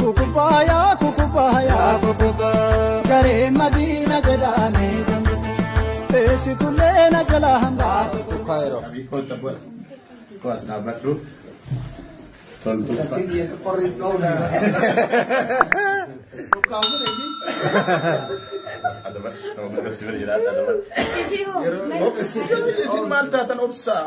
Kukubaaya kukubaaya kukuba garee madiina jedhaame eessi tullee na jala hambaa. Kaayiroo. Abii koota bu'as. Bu'as dhaabadhu. Toltuu. Isin maal taatan obsaa?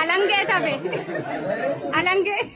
Alangee tafe. Alangee.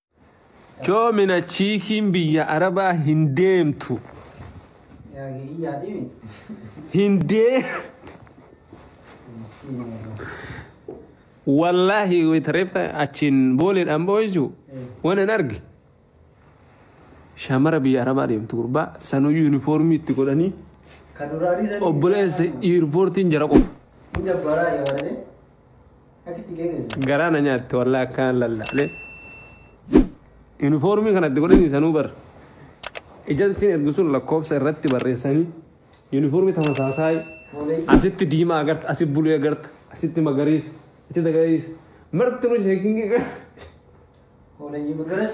Coomina chiikiin biyya arabaa hin deemtu. Hin dee. Wallaahi wayita reefta achiin booleedhaan ba'u jechuun waan hin arge. Shaamara biyya arabaa deemtu gurbaa sanuu yuunifoormii itti godhanii obboleessa iirpoortiin jara qofa. Garaa na nyaatte wallaa akkaan lallaalee. Yuunifoormii kanatti godhanii sanuu bar. Ejansiin ergu sun lakkoofsa irratti barreessanii yuunifoormii tamasaasaayii asitti diimaa agarta, asitti buluu agarta, asitti magariisa, asitti magariisa. Marti nu sheekingi gara.